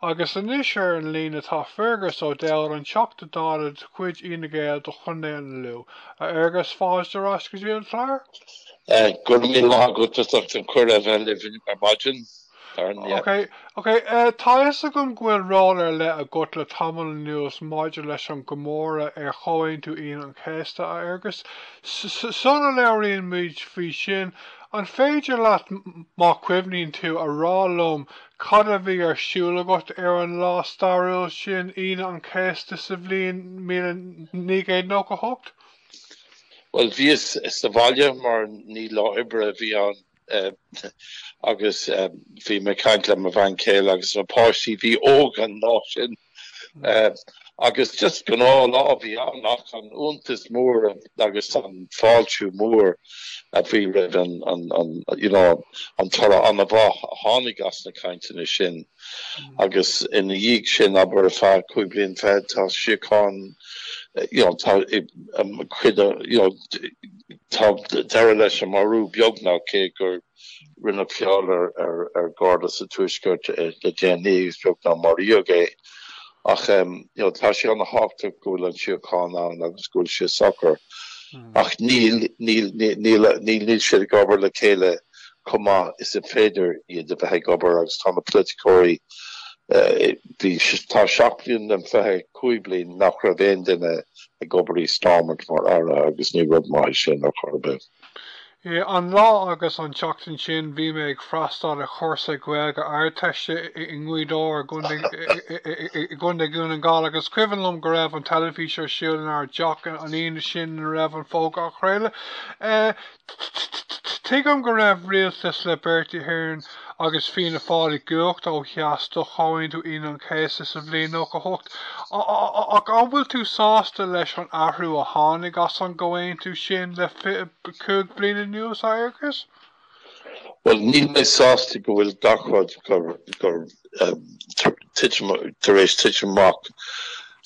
Agus anois ar an líne tá Fergus O'Dowd, an Teachta Dála de chuid Fhine Gael do Chontae an Lú. A Fergus, fáilte ar ais go dtí an clár. Go raibh míle maith agat as ucht an cuireadh a bheith libh ar maidin. Ok, ok, tá a fhios agam go bhfuil ról ar leith agat le tamall anuas maidir leis an gcomóradh ar Chomhaontú Aoine an Chéasta, a Fergus. Sula labhraíonn muid faoi sin, an féidir leat, má chuimhníonn tú, a rá liom Cad a bhí ar siúl agat ar an lá stairiúil sin, Aoine an Chéasta sa bhliain míle naoi gcéad nócha a hocht? Bhuel, bhíos sa bhaile mar ní lá oibre a bhí ann agus bhí mé ag caint le mo bhean chéile agus na páistí a bhí óg an lá sin. Agus just gnáth lá a bhí ann ach an iontas mór agus an fáiltiú mór a bhí roimh an, an, an, you know, an toradh an-mhaith a tháinig as na cainteanna sin. Mm. Agus ina dhiaidh sin abair ar feadh cúig bliain fichead tá síocháin you know, tá um, cuid you know, tá deireadh leis an marú beagnach cé gur Rinneadh feall ar Gharda sa Tuaisceart le déanaí agus beagnach maraíodh é. Ach tá sé ana-thábhachtach go bhfuil an síocháin ann agus go bhfuil sé socair. Ach níl níl siad ag obair le chéile chomh maith is is féidir iad a bheith ag obair agus tá na polaiticeoirí bhí tá seacht mbliain den fiche cúig bliain nach raibh aon duine ag obair i Stormont mar Aire agus ní rud maith é sin ar chor ar bith. I, an lá agus an tseachtain sin bhí mé ag freastáil ar chúrsa Gaeilge Ardteiste i nGaoth Dobhair i gContae Dhún na nGall agus cuimhin liom go raibh an teilifís ar siúl in ár dteach an Aoine sin ina raibh an fógra á chraoladh. Tuigim go raibh rialtas le Bertie Ahern agus Fianna Fáil i gcumhacht ó theas do Chomhaontú Aoine an Chéasta sa bhliain nócha hocht ach an bhfuil tú sásta leis an athrú a tháinig as an gComhaontú sin le fiche cúig bliana anuas agus. Bhuel, níl mé sásta go bhfuil gach rud gur tar éis titim amach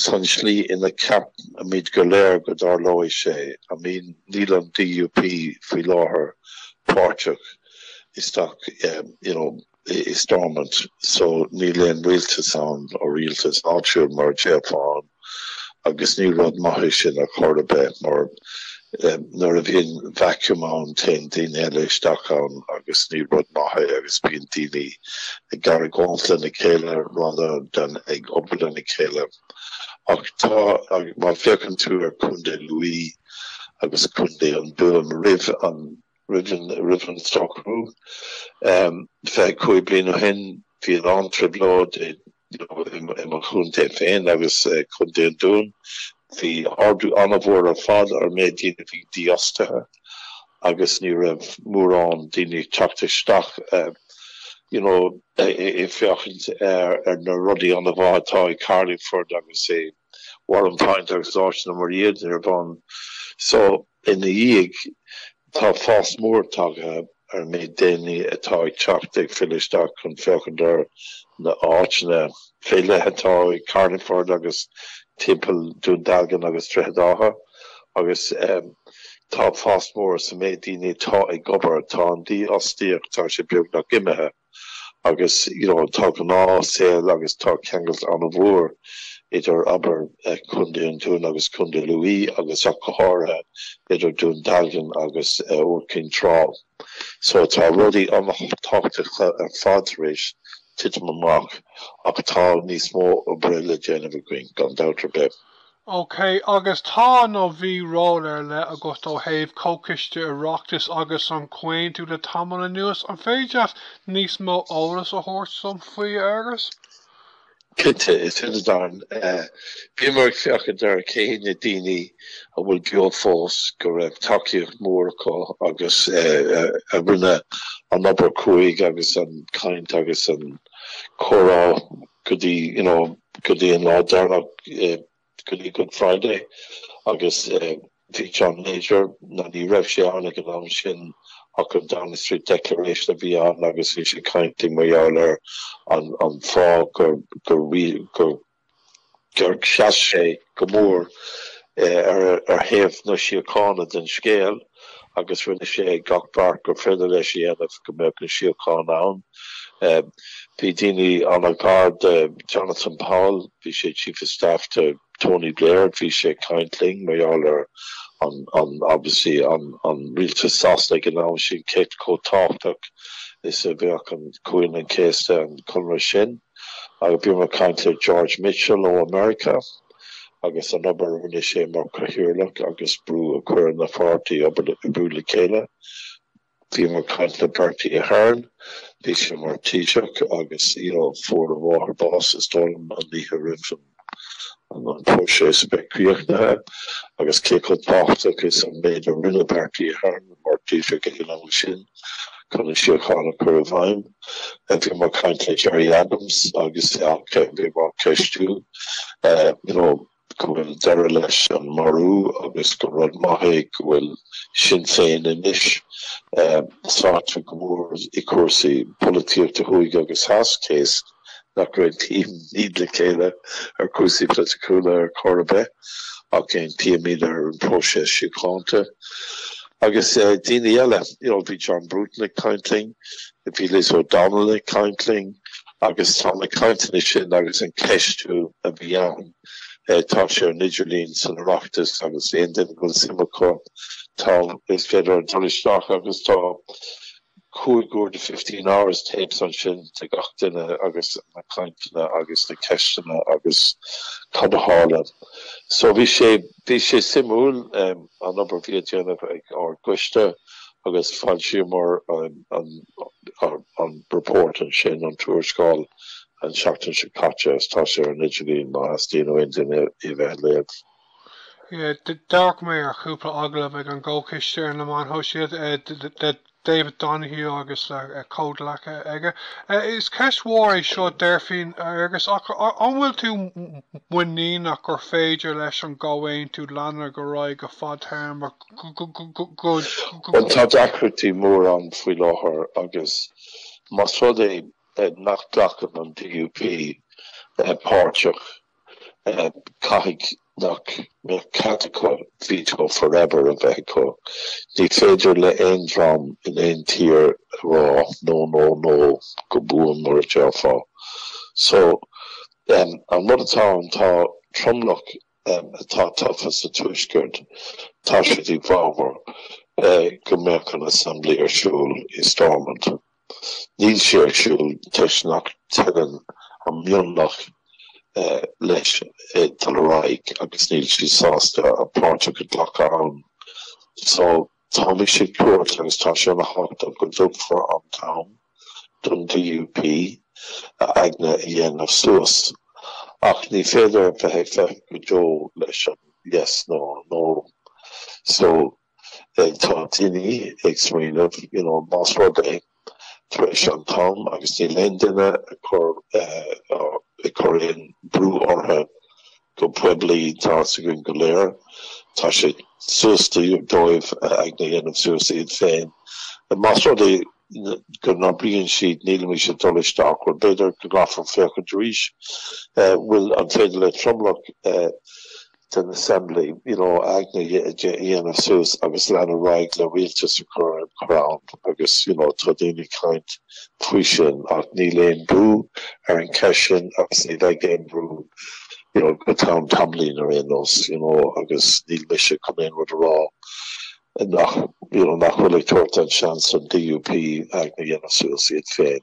san slí ina gceapaimid go léir go dtarlóidh sé. I mean, níl an DUP faoi láthair páirteach isteach, you know, i Stormont so níl aon rialtas ann or rialtas áitiúil mar a déarfá ann agus ní rud maith é sin ar chor ar bith mar nuair a bhíonn vacuum ann téann daoine eile isteach ann agus ní rud maith é agus bíonn daoine ag argóint lena chéile rather than ag obair lena chéile ach tá má fhéachann tú ar Chontae Lú agus Contae an Dúin roimh an Roimh an socrú fiche cúig bliain ó shin bhí an-trioblóid i mo chontae féin agus Contae an Dúin. Bhí ardú an-mhór ar fad ar an méid daoine a bhí dífhostaithe agus ní raibh mórán daoine ag teacht isteach you know ag féachaint ar na rudaí an-mhaith atá i Carlingford agus ag Warrenpoint agus áiteanna mar iad araon. So, ina dhiaidh sin, tá fás mór tagtha ar an méid daoine atá ag teacht ag filleadh isteach chun féachaint ar na háiteanna áille atá i Carlingford agus timpeall Dún Dealgan agus Droichead Átha agus tá fás mór sa méid daoine atá ag obair. Tá an dífhostaíocht, tá sé beagnach imithe. agus you know tá gnáth saol agus tá ceangal an-mhór idir abair Contae an Dúin agus Contae Lú agus ach go háirithe idir Dún Dealgan agus Iúr Cinn Trá. So tá rudaí an-tábhachtach ar fad tar éis titim amach ach tá níos mó oibre le déanamh againn gan dabht ar bith. OK, agus tá nó bhí ról ar leith agat ó thaobh Comhchiste Oireachtais agus an Comhaontú le tamall anuas. An féidir leat níos mó eolas a thabhairt dom faoi, a Fhergus? Cinnte, is ea, Darren. Bhíomar ag féachaint ar cé hiad na daoine a bhfuil beo fós go raibh tacaíocht mhór acu agus a rinne an obair chruaidh agus an chaint agus an comhrá. go dtí, you know, go dtí an lá deireanach, go dtí Good Friday agus bhí John Major, ná ní raibh sé ann ag an am sin ach an Downing Street Declaration a bhí ann agus bhí sé ag caint linn mar gheall ar an fáth gur, gur, gur, gur sheas sé go mór ar thaobh na síochána den scéal agus rinne sé gach beart gur féidir leis a dhéanamh go mbeadh an síocháin ann. Bhí daoine an-ghar de Jonathan Powell, bhí sé Chief of Staff to Tony Blair, bhí sé ag caint linn mar gheall ar an obviously an rialtas Sasanaigh an am sin cé chomh tábhachtach is a bheadh an Aoine an Chéasta an Conradh sin. agus bhíomar ag caint le George Mitchell ó America agus an obair a rinne sé mar Cathaoirleach agus brú a chur ar na páirtithe oibriú le chéile. Bhíomar ag caint le Bertie Ahern, bhí sé mar Taoiseach agus you know, fuair a mháthair bás is dóigh liom an oíche roimh an an próiseas a bheith críochnaithe agus cé chomh tábhachtach is an méid a rinne Bertie Ahern mar Taoiseach ag an am sin chun an síocháin a chur i bhfeidhm. Bhí mé ag caint le Gerry Adams agus bhí mé á cheistiú you know, go bhfuil deireadh leis an marú agus go rud maith é go bhfuil Sinn Féin anois sáite go mór i cúrsaí polaitíochta thuaidh agus theas cé is. nach réitímid le chéile ar chúrsaí polaiticiúla ar chor ar bith ach aontaímid ar an próiseas síochánta. Agus daoine eile, bhí John Bruton ag caint linn, bhí Liz O'Donnell ag caint linn agus tá na cainteanna sin agus an ceistiú a bhí ann, tá sé ar an idirlíon san Oireachtas agus aon duine go bhfuil suim acu, tá, is féidir dul isteach agus tá cúig uair déag fifteen hours tapes ansin de gach duine agus na cainteanna agus na ceisteanna agus cad a tharla. So bhí sé bhí sé suimiúil an obair bhí á déanamh ag ár gcoiste agus foilsíomar an an report ansin, an tuarascáil an seachtain seo caite is tá sé ar an idirlíon má theastaíonn ó aon duine í a bheith a léamh. D'amharc mé ar chúpla agallamh ag an gComhchoiste ar na meáin shóisialta le David Donoghue agus le comhghleacaithe aige. Is ceist mhór é seo déarfainn, a Fhergus, ach an bhfuil tú muiníneach gur féidir leis an gComhaontú leanadh ar aghaidh go fadtéarmach? Bhuel, tá deacrachtaí mór ann faoi láthair agus más rud é nach nglacann an DUP páirteach Caithfidh nach mbeadh cead acu veto forever a bheith acu. Ní féidir le aon dream in aon tír a rá no no no go buan mar a déarfá so. An rud atá ann tá tromlach atá tofa sa Tuaisceart tá siad i bhfabhar go mbeadh an Assembly ar siúl i Stormont. Níl sé ar siúl toisc nach dteagann an mionlach leis ag dul ar aghaidh agus níl siad sásta a bpáirteach a ghlacadh ann. So táimse ag tabhairt agus tá sé ana thábhachtach go dtugfar an t-am don DUP a aigne a dhéanamh suas. Ach ní féidir a bheith ag feitheamh go deo leis an yes nó an no. So. tá daoine ag smaoineamh you know más rud é tar éis an t-am agus níl aon duine ag cur ag cur aon brú orthu go poiblí tá's againn go léir tá sé suas dóibh a aigne a dhéanamh suas iad féin más rud é go n-abraíonn siad nílimidne ag dul isteach bhuel b'fhéidir go gcaithfear féachaint arís bhfuil an féidir le tromlach den Assembly, you know, aigne a dhéanamh suas agus leanadh ar aghaidh le rialtas a chur ar an chrann agus, you know, tá daoine ag caint faoi sin ach níl aon bhrú ar an cheist sin agus ní bheidh aon bhrú, you know, go ceann tamaillín ar aon nós, you know, agus níl mise chun aon rud a rá nach, you know, nach bhfuil ag tabhairt an seans don DUP aigne a dhéanamh suas iad féin.